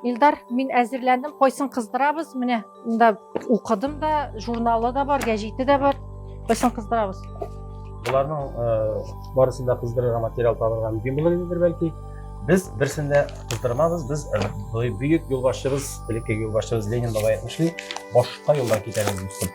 Илдар, мин әзерләндем, кайсын кыздырабыз, менә монда укыдым да, журналы да бар, гәҗите дә бар. Кайсын кыздырабыз? Боларның э, барысын да кыздырырга материал табырга мөмкин булыр идедер бәлки. Без берсен дә кыздырмабыз, без э, бөек юлбашчыбыз, элекке юлбашчыбыз Ленин бабай әйтмешли, башка юлдан китәрбез, дустым.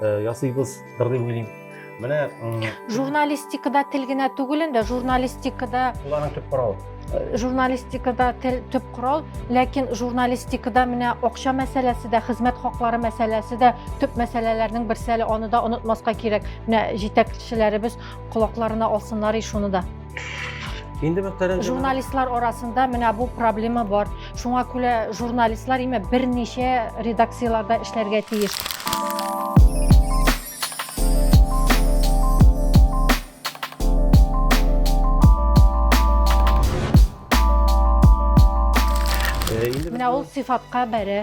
э, ясыйбыз дыр дип уйлыйм менә журналистикада тел генә түгел инде журналистикада ул аның төп коралы э, журналистикада тел төп корал ләкин журналистикада менә акча мәсьәләсе дә хезмәт хаклары мәсьәләсе дә төп мәсьәләләрнең берсе әле аны да онытмаска кирәк менә җитәкчеләребез колакларына алсыннар и шуны да Инде мөхтәрәм журналистлар арасында менә бу проблема бар. Шуңа күрә журналистлар име берничә редакцияләрдә эшләргә тиеш. Э, менә ул сыйфатка бәрә.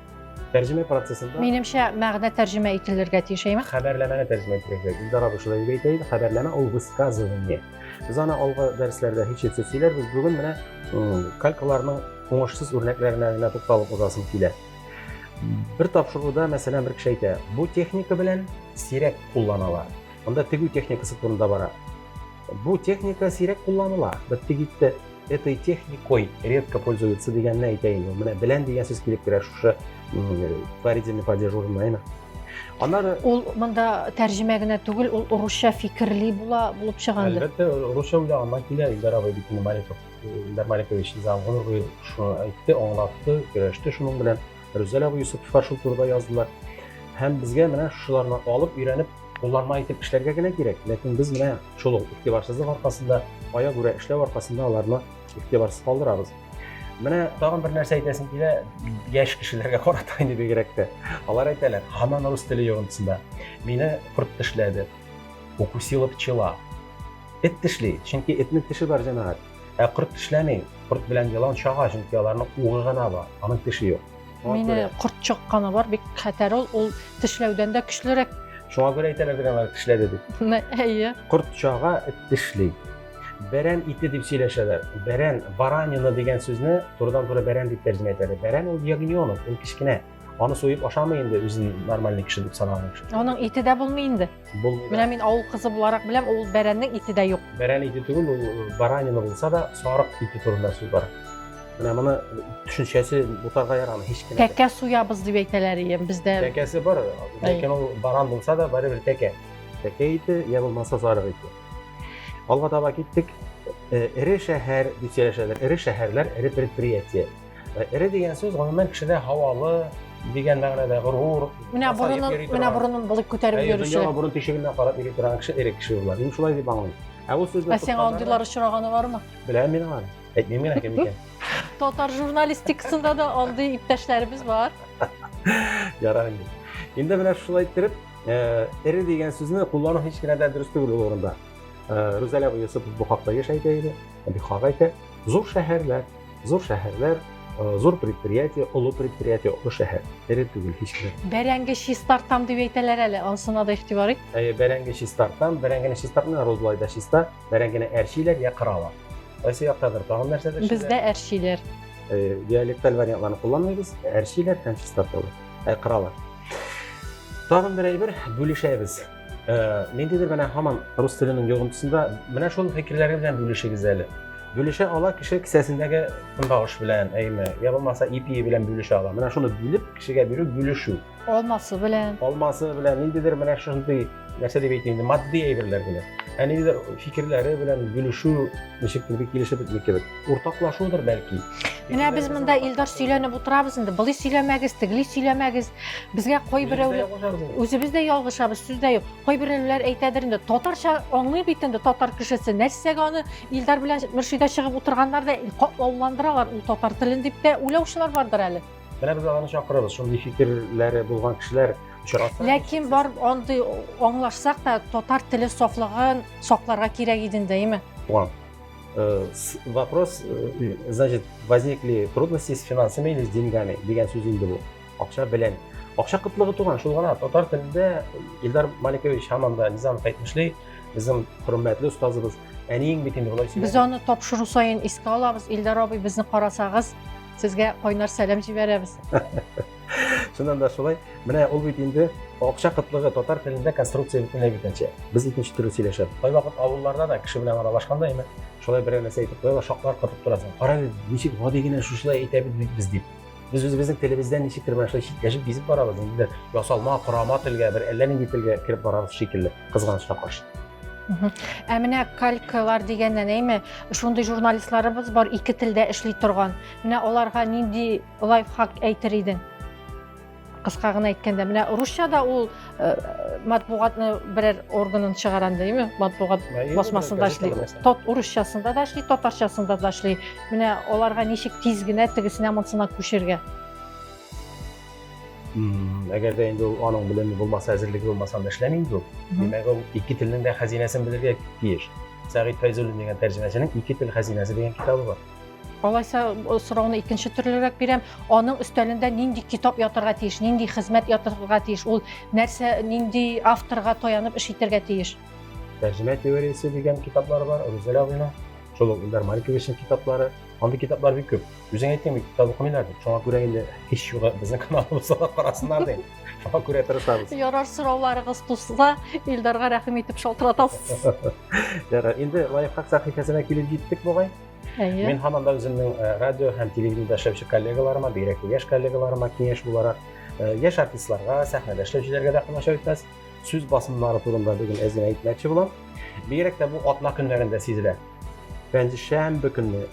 Тәрҗемә процессында Минемчә, мәгънә тәрҗемә ителергә тиеш, әйме? Хәбәрләмәне тәрҗемә итәргә. Гүзара Бушева дип әйтә иде, хәбәрләмә ул высказывание. Без аны алгы дәресләрдә һич итсез сөйләрбез. Бүген менә калькаларның уңышсыз үрнәкләренә генә тукталып узасым килә. Бер тапшыруда, мәсәлән, бер кеше әйтә, бу техника белән сирәк кулланалар. Монда тегү техникасы турында бара. Бу техника сирәк кулланыла. Бетте китте. Этой техникой редко пользуется дигәнне әйтә инде. Менә белән дигән сүз килеп керә шушы творительный падеж урынына, әйме? Аннары Ул монда тәрҗемә генә түгел, ул урысча фикерли була булып чыганды. Әлбәттә, урысча уйлап анда килә Илдар абый бит инде Маликов. Илдар Маликович Изам гомер буе шуны әйтте, аңлатты, көрәште шуның белән. Рүзәл абый Юсупова шул турыда яздылар. Һәм безгә менә шуларны алып, өйрәнеп, кулланма итеп эшләргә генә кирәк. Ләкин без менә шул ук игътибарсызлык аркасында, ая күрә эшләү аркасында аларны игътибарсыз калдырабыз. Менә тагын бер нәрсә әйтәсем килә, яшь кешеләргә карата инде бигрәк тә. Алар әйтәләр, һаман рус теле йогынтысында. Мине корт тешләде. Укусила пчела. Эт тешли, чөнки этнең теше бар, җәмәгать. Ә корт тешләми. Корт белән елан чага, чөнки аларның угы гына бар, аның теше юк. Мине корт чакканы бар, бик хәтәр ул, ул тешләүдән дә көчлерәк. Шуңа күрә әйтәләр бит алар тешләде дип. Әйе. Корт чага, эт тешли. Бәрән ите дип сөйләшәләр. Бәрән, баранина дигән сүзне турыдан-туры бәрән дип тәрҗемә итәләр. Бәрән ул ягнёнок, ул кечкенә. Аны суеп ашамый инде үзен нормальный кеше дип санаган кеше. Аның ите дә булмый инде. Булмый. Менә мин авыл кызы буларак беләм, ул бәрәннең ите дә юк. Бәрән ите түгел, ул э, баранина булса да, сарык ите турында сүз бар. Менә моны төшенчәсе бутарга ярамый һич кенә. Тәкә суябыз дип әйтәләр ием бездә. Тәкәсе бар, ләкин ул баран булса да барыбер тәкә. Тәкә ите я булмаса сарык ите. Алга таба киттек. Э, эре шәһәр дип сөйләшәләр. Эре шәһәрләр, эре предприятие. Э, эре дигән сүз гомумән кешедә һавалы дигән мәгънәдә горур менә борынын менә борынын булып күтәреп йөрүче дөньяга борын тишегеннән карап йөри торган кеше эре кеше була мин шулай дип аңлыйм ә ул сүзне ә сиңа андыйлар очраганы бармы беләм мин аны әйтмим генә кем икән татар журналистикасында да андый иптәшләребез бар ярар инде инде менә шулай иттереп э, эре дигән сүзне куллану һич кенә дә дөрес түгел ул урында э, рүзәлә юсупов бу хакта еш әйтә иде бик хак әйтә зур шәһәрләр Зур шәһәрләр, э, зур предприятие, олы предприятие, олы шәһәр. Тере түгел һичбер. Бәрәңге чистартам дип әйтәләр әле, ансына да игътибар ит. Әйе, бәрәңге чистартам, бәрәңгене чистартмый, розлай да чиста. Бәрәңгене әрчиләр я кыралар. Кайсы яктадыр тагын нәрсәдер эшлиләр. Бездә әрчиләр. Э, диалекталь вариантларны кулланмыйбыз, әрчиләр һәм чистарталар, ә кыралар. Тагын бер әйбер бүлешәбез. Э, ниндидер менә һаман рус теленең йогынтысында менә шул фикерләре белән бүлешегез әле бүлешә ала кеше кесәсендәге көнбагыш белән әйме я булмаса ипие белән бүлешә ала менә шуны бүлеп кешегә бирү бүлешү алмасы белән алмасы белән ниндидер менә шундый нәрсә дип әйтим матди әйберләр белән ә ниндидер фикерләре белән бүлешү ничектер бик килешеп бетми кебек уртаклашудыр бәлки. Менә без монда Илдар сөйләнеп утырабыз инде. Былай сөйләмәгез, тегли сөйләмәгез. Безгә кайберәүләр үзебез дә ялгышабыз, сүз дә юк. Кайберәүләр әйтәдер инде, татарча аңлый бит инде татар кешесе. Нәрсәгә аны Илдар белән Мөршидә чыгып утырганнар да катлауландыралар ул татар телен дип тә уйлаучылар бардыр әле. Менә без аларны чакырабыз, шундый фикерләре булган кешеләр очраса. Ләкин бар андый аңлашсак та татар теле сафлыгын сакларга кирәк иде инде, әйме? Туган. Э, вопрос, э, значит, возникли трудности с финансами или с деньгами деген сөз инде бу. Акча белән. Акча кытлыгы туган, шул гына татар телендә Илдар Маликович һаман да Низамов әйтмешли, безнең хөрмәтле остазыбыз әниең бит инде болай сөйләде. Без аны тапшыру саен искә алабыз. Илдар абый безне карасагыз, сезгә кайнар сәлам җибәрәбез. Шуннан да шулай. Менә ул бит инде акча кытлыгы татар телендә конструкция бөтенләй битенчә. Без икенче төрле сөйләшәбез. Кай вакыт авылларда да кеше белән аралашканда имә, шулай берәр нәрсә әйтеп куялар, шаклар катып торасың. Кара әле, ничек гади генә шушылай әйтә бит без дип. Без үзебезнең телебездән ничектер менә шулай читләшеп бизеп барабыз. Инде ясалма, корама телгә, бер әллә нинди телгә кереп барабыз шикелле, кызганычка каршы. Ә менә калькалар дигәннән әйме, шундый журналистларыбыз бар ике телдә эшли торган. Менә аларга нинди Лайфхак әйтер идең. Кыска гына әйткәндә, менә русчада ул э, матбугатны берәр органын чыгаран димме? Матбугат басмасында эшли. Тот урысчасында да эшли, татарчасында да эшли. Менә аларга ничек тиз генә тегесенә монсына күчергә. Әгәр дә инде ул аның белеме булмаса, әзерлеге булмаса, анда эшләми инде ул. Димәк, ул ике телнең дә хәзинәсен белергә тиеш. Сәгыйть Фәйзуллин дигән тәрҗемәченең Ике тел хәзинәсе дигән китабы бар. Алайса сорауны икенче төрлерәк бирәм. Аның өстәлендә нинди китап ятырга тиеш, нинди хезмәт ятырга тиеш, ул нәрсә, нинди авторга таянып эш итәргә тиеш? Тәрҗемә теориясе дигән китаплар бар, Рузәлә абыйның. Шул ук Илдар Маликовичның китаплары. Андый китаплар бик күп. Үзең әйттең бит, китап укымыйлар дип. Шуңа күрә инде һич югы безнең каналыбызда да карасыннар дим. Шуңа күрә тырышабыз. Ярар, сорауларыгыз туса, Илдарга рәхим итеп шалтыратасыз. Ярар, инде лайфхак сәхифәсенә килеп җиттек бугай. Әйе. Мин һаман да үземнең э, радио һәм телевидениедә эшләүче коллегаларыма, бигрәк тә яшь коллегаларыма киңәш буларак, э, яшь артистларга, сәхнәдә эшләүчеләргә дә комачау итмәс, сүз басымнары турында бүген әз генә әйтмәкче булам. Бигрәк тә бу атна көннәрендә сизелә. Пәнҗешәмбе көнне,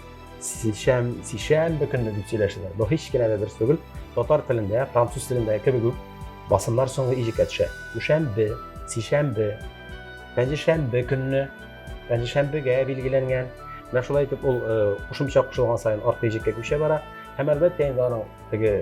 сишәм, сишәмбе көнне дип сөйләшәләр. Бу һич кенә дә дөрес түгел. Татар телендә, француз телендә кебек үк басымнар соңгы иҗеккә төшә. Дүшәмбе, сишәмбе, пәнҗешәмбе көнне пәнҗешәмбегә билгеләнгән. Менә шулай итеп ул кушымча кушылган саен арткы җеккә күчә бара. Һәм әлбәттә инде аның теге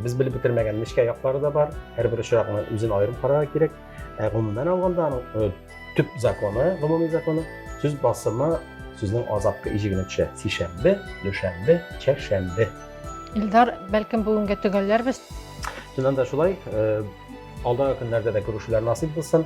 без белеп бетермәгән нечкә яклары да бар. Һәрбер очракны үзен аерым карарга кирәк. Ә гомумән алганда аның төп законы, гомуми законы сүз басымы сүзнең азаккы иҗегенә төшә. Сишәмбе, дүшәмбе, чәршәмбе. Илдар, бәлкем бүгенгә төгәлләрбез. Чыннан да шулай. Алдагы көннәрдә дә күрешүләр насыйп булсын.